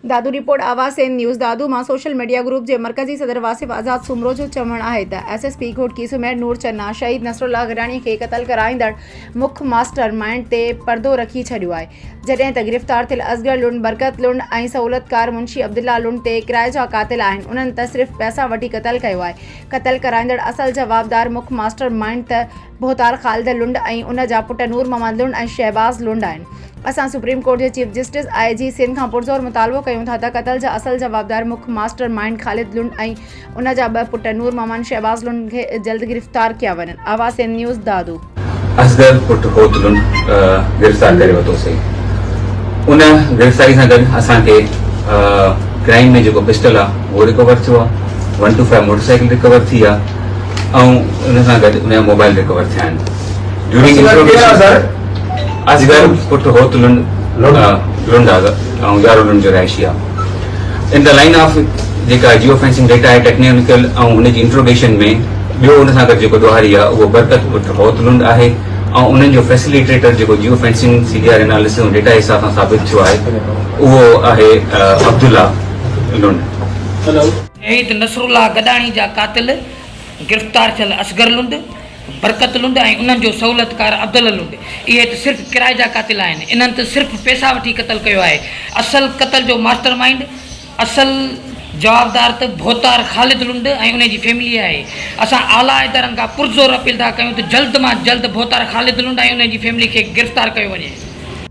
Dadu report آواز Sindh news Dadu مان social media group جي مرڪزي صدر واصف آزاد سومرو جو چوڻ آهي ته S S P Ghotki Sameer Noor Channa شهيد نصرالله گڏاڻي کي قتل ڪرائيندڙ مک ماسٽر مائينڊ تي پردو رکي ڇڏيو آهي جڏهن ته گرفتار ٿيل اصغر لنڊ برڪت لنڊ ۽ سهولتڪار منشي عبدالله لنڊ تي ڪرائي جا قاتل آهن انهن ته صرف پئسا وٺي قتل ڪيو آهي قتل ڪرائيندڙ اصل جوابدار مک ماسٽر مائينڊ ته ڀوتار خالد لنڊ ۽ ان جا پٽ نور محمد لنڊ ۽ شهباز لنڊ آهن. اسان سپريم ڪورٽ جي chief justice, I G, Sindh کان پرزور مطالبو ڪيون ٿا ته قتل جا اصل جوابدار مک ماسٽر مائينڊ خالد لنڊ ۽ ان جا ٻه پٽ نور محمد ۽ شهباز لنڊ کي جلد گرفتار ڪيا وڃن. آواز سنڌ نيوز، دادو. اصغر پٽ هوت لنڊ گرفتار ڪري ورتوسين. ان گرفتاري سان گڏ اسان کي ڪرائم ۾ جيڪو پسٽل آ اهو رڪور ٿيو آ. One two five motorcycle recover ٿي آ. ۽ ان سان گڏ ان جا موبائل ريڪور ٿيا آهن ڊيورنگ انٽروگيشن اصغر پٽ هوت لنڊ لنڊ آهي ۽ يارو لنڊ جو رهائشي آهي ان دا لائن آف جيڪا جيو فينسنگ ڊيٽا آهي ٽيڪنيڪل ۽ ان جي انٽروگيشن ۾ ٻيو ان سان گڏ جيڪو ڏوهاري آهي اهو برڪت پٽ هوت لنڊ آهي ۽ انهن جو فيسليٽيٽر جيڪو geo fencing C D R analysis ۽ data حساب سان ثابت ٿيو آهي اهو آهي عبدالله لنڊ شهيد نصرالله گڏاڻي جا قاتل گرفتار ٿيل اصغر لنڊ، برڪت لنڊ ۽ انهن جو سهولتڪار عبدالله لنڊ اهي ته صرف ڪرائي جا قاتل آهن، انهن ته صرف پئسا وٺي قتل ڪيو آهي، اصل قتل جو ماسٽر مائينڊ، اصل جوابدار ته ڀوتار خالد لنڊ ۽ انهي جي فيملي آهي، اسان اعليٰ ادارن کان پرزور اپيل ٿا ڪيون ته جلد مان جلد ڀوتار خالد لنڊ ۽ انهي جي فيملي کي گرفتار ڪيو وڃي.